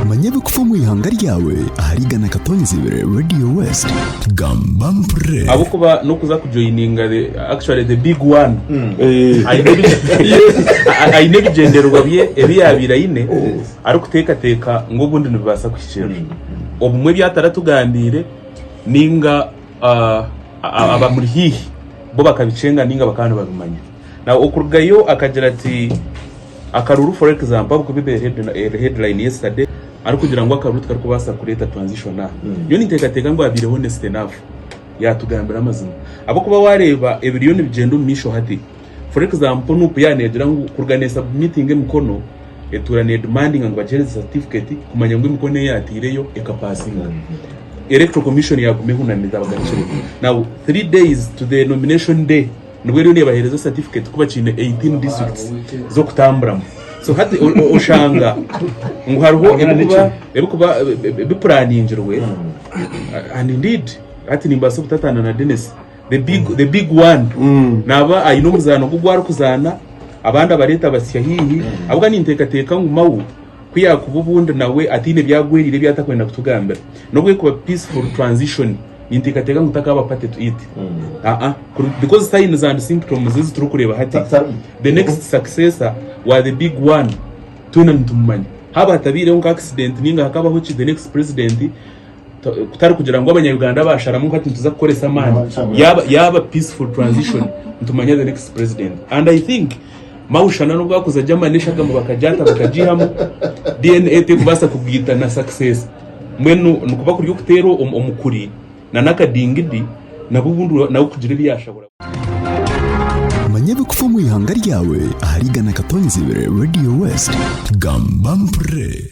Manya ebikufa omu ihanga ryawe ahari igana katonzi ibiri Radio West. Gamba mpurre. ahabw'okuba n'okuza kujoininga the- actually the big one aine ebi- a- aine ebigyendererwa bye ebi yaabaire aine arikuteekateeka ngu obundi nibibaasa kuhikirira obumwe ebi ataratugambiire ninga ah, a- abamuri haihi bo bakabikyenga ninga bakaba nibabimanya Now okurugayo akagira ati akaruru for example ahakuba ebaire headline yesterday arikugira ngu akaruru tikarikubaasa kureeta transition aha. Nyowe ninteekateeka ngu abaire honest enough yaatugambira amazima ahabw'okuba waareeba ebiriyo nibigyenda omu maisho hati for example nup yaaba neegira ngu kuruga neesubmitinga emikono etuura needimandinga ngu bagihereze certificate kumanya ngu emikono ei yaataireyo ekapaasinga electoral commission yaaguma ehunami etabagarukire now three days to the nomination day Nibwo eriyo nebahereza certificate kuba kiine 18 districts zokutamburamu so hati oshanga ngu hariho ebikuba bipuraningirwe and indeed hati nimbaasa obutataana na Dennis the big, the big one mm. naaba aine omuzaano gu gwarikuzaana abandi abareeta basya haihi mm. abwa ninteekateeka ngu mawu Ku yaakuba obundi nawe ataine ebi agweriire ebi atakwenda kutugambira, n'obu erikuba peaceful transition, ninteekateeka ngu takaaba party to it. Aa, kuri because signs and symptoms ezi turikureeba hati, the next successor wa the big one twena nitumumanya. Haaba hatabaireho nka accident ninga hakabaho ki, the next president kutari kugira ngu abanyayuganda basharamu nka nituza kukoresa amaani yaba yaba peaceful transition nitumanya the next president and i think mawushana nubwo akuza ajya manisha gamu bakajata bakajihamu dna tekubasa kugita na success mwenu nikuba kuri okutera omukuri na nakadingidi nabo ubundi nawe kugira ebyashabura manya ebikufa omu ihanga ryawe ahari igana katonzi ibiri radio west gamba mpurire